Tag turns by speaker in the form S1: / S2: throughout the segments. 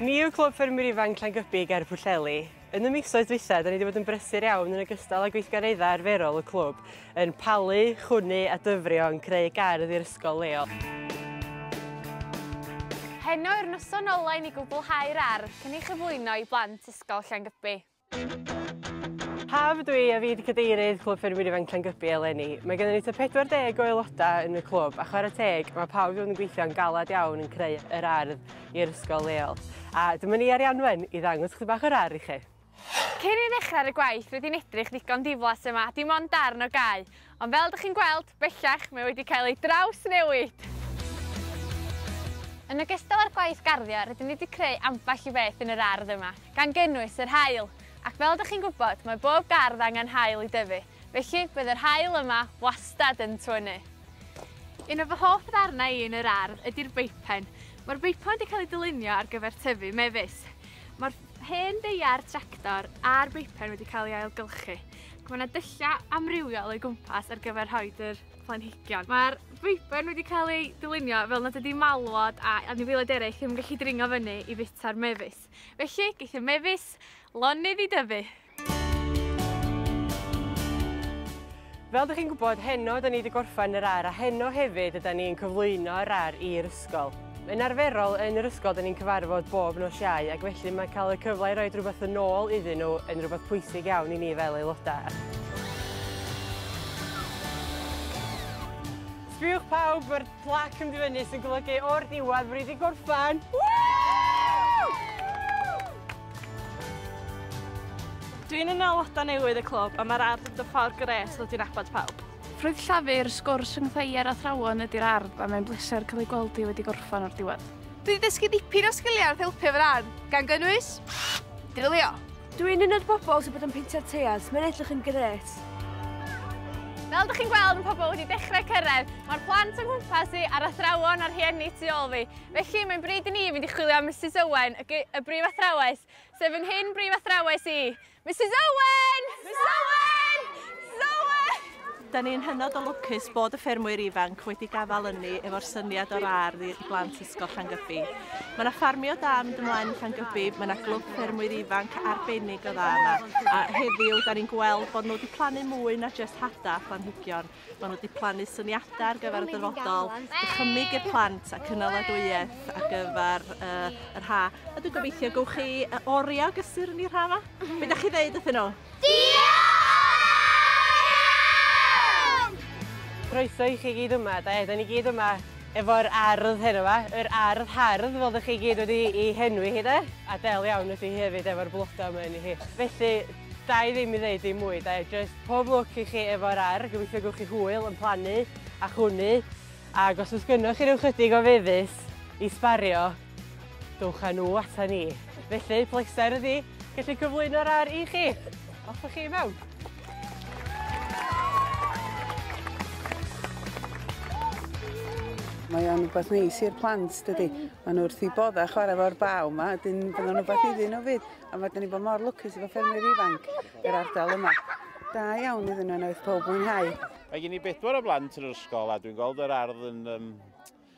S1: Ni yw Clwb Ffermwyr Ifanc Llangybi ger Pwllheli. Yn y misoedd dwytha, da ni wedi bod yn brysur iawn yn ogystal â gweithgareddau arferol y clwb, yn palu, chwnu a dyfrio yn creu gardd i'r ysgol leol.
S2: Heno yw'r noson ola' i ni gwblhau'r ardd cyn ei chyflwyno i blant Ysgol Llangybi.
S1: Haf ydw i a fi 'di cadeirydd Clwb Ffermwyr Ifanc Llangybi eleni. Mae gennym ni tua 40 o aelodau yn y clwb a chwarae teg mae pawb i fod yn gweithio'n galed iawn yn creu yr ardd i'r ysgol leol. A dyma ni Arianwen i ddangos chdi bach o'r ardd i chi. Cyn i ni ddechrau
S2: ar y gwaith rydyn ni'n edrych ddigon diflas yma, dim ond darn o gae, ond fel ydych chi'n gweld, bellach, mae wedi cael ei drawsnewid! Yn ogystal â'r gwaith garddio rydyn ni wedi creu ambell i beth yn yr ardd yma, gan gynnwys yr haul! Ac fel ydych chi'n gwybod, mae bob gardd angen haul i dyfu, felly bydd yr haul yma wastad yn twynnu! Un o fy hoff ddarnau i yn yr ardd ydy'r beipen. Mae'r beipen wedi cael ei dylunio ar gyfer tyfu mefus. Mae'r. Hen ddeiar tractor a'r beipen wedi cael ei ailgylchu ac mae yna dyllau amrywiol o'i gwmpas ar gyfer rhoi yr planhigion. Mae'r beipen wedi cael ei dylunio fel nad ydy malwod a anifeiliaid eraill ddim yn gallu dringo fyny i fita'r mefus. Felly, geith y mefus lonydd i dyfu!
S1: Fel dych chi'n gwybod, heno yda ni wedi gorffen yr ar a heno hefyd yda ni'n cyflwyno yr ar i'r ysgol. Yn arferol, yn yr ysgol yda ni'n cyfarfod bob nos Iau ac felly mae cael y cyfle i roi rhywbeth yn ôl iddyn nhw yn rhywbeth pwysig iawn i ni fel aelodau. Sbïwch pawb, mae'r Plac yn mynd i fyny sy'n golygu o'r diwedd bod ni wedi gorffen!
S3: Dwi'n un o aelodau newydd y clwb a mae'r ardd yn dod ffordd grêt ddod i nabod pawb. Ffrwyth Llafur, sgwrs rhyngddo i a'r athrawon ydy'r ardd a mae'n bleser cael ei gweld hi wedi gorffen o'r diwedd. Dwi wedi dysgu dipyn
S2: o sgiliau wrth helpu efo'r ardd, gan gynnwys, drilio. Dw i'n un o'r
S4: bobl sy'n bod yn peintio'r teiars, mae'n edrych yn gret.
S2: Fel ydych chi'n gweld, mae pobl wedi dechrau cyrraedd. Mae'r plant yng nghwmpas i a'r athrawon a'r rhieni tu ôl fi. Felly, mae'n bryd i ni fynd i chwilio am Misus Owen, y, y brif athrawes, sef yn hyn brif athrawes i. Misus Owen! Misus Owen! Misus Owen! Da ni'n hynod
S3: o lwcus bod y ffermwyr ifanc wedi gafael ynni efo'r syniad o'r ardd i blant Ysgol Llangybi. Mae yna ffarmio da mynd ymlaen yn Llangybi, mae yna glwb ffermwyr ifanc arbennig o dda yma, a heddiw da ni'n gweld bod nhw wedi plannu mwy na jyst hada a phlanhigion. Mae nhw wedi plannu syniadau ar gyfer y dyfodol, dychymyg i'r plant a cynaladwyedd ar gyfer uh, yr ha. A dwi'n gobeithio gywch chi oriau o gysur yn i'r ha yma? Be da chi ddeud wrthyn nhw?
S1: Croeso i chi gyd yma, da iawn, 'da ni gyd yma efo'r ardd heno 'ma, yr ardd hardd fel 'dych chi gyd wedi i henwi hi 'de, a del iawn ydi hi hefyd efo'r bloda 'ma yni hi. Felly, da i ddim i ddeud dim mwy 'de, jyst pob lwc i chi efo'r ardd, gobeithio gewch chi hwyl yn plannu a chwnu, ag os o's gynnoch chi ryw chydig o fefus i sbario, Dowch â nhw ata ni. Felly, pleser ydi gallu cyflwyno'r ar i chi. Off â chi i mewn.
S5: Mae o'n rhywbeth neis i'r plant, dydy. Mae nhw wrth i bodda chwarae fo'r baw yma, dyn bydd o'n rhywbeth iddyn nhw fyd. A mae dyn ni bod mor lwcus efo ffermwyr ifanc yr ardal yma. Da iawn iddyn nhw yn oedd pob mwynhau. Mae gen i bedwar
S6: o blant yn yr ysgol a dwi'n gweld yr ardd yn um,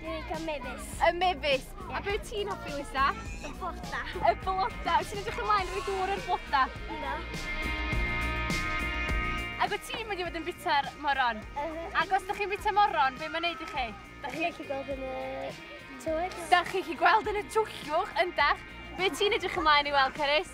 S2: Dwi'n licio mefus.
S4: Y mefus. Yeah.
S2: A be ti'n hoffi, Lisa? Y bloda.
S4: Y bloda. Wyt
S2: ti'n edrych ymlaen rhoi dŵr i'r bloda?
S4: Ynddo.
S2: Ac wyt ti'n mynd i fod yn bita'r moron? Uh -huh. Ac os ydych chi'n bita moron, be mae'n neud i chi? Da chi'n gallu gweld yn y twyll. Da
S4: chi'n
S2: gallu gweld
S4: yn y
S2: twyllwch,
S4: yndach?
S2: Be ti'n edrych ymlaen i weld, Cerys?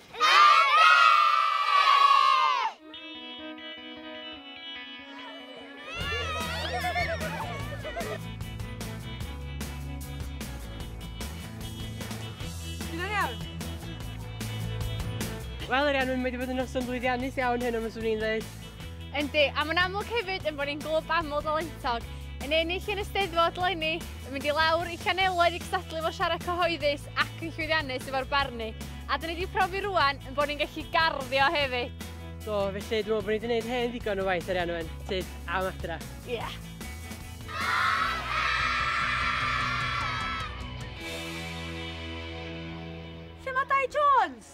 S1: Wel, yr iawn, mae wedi bod yn noson blwyddiannus iawn hyn am yswm ni'n dweud. Yndi, a mae'n
S2: amlwg hefyd yn bod ni'n glwb aml dalentog. Yn ennill yn y steddfod leni, yn mynd i lawr i Llanelwedd i gystadlu fo siarad cyhoeddus, ac yn llwyddiannus efo'r barnu. A dyn ni wedi profi rwan yn bod ni'n gallu garddio hefyd. Do, felly dwi'n
S1: meddwl bod ni wedi gwneud hen ddigon o waith arian o'n tyd am adra. Ie. Yeah.
S4: Lle mae Dai Jones?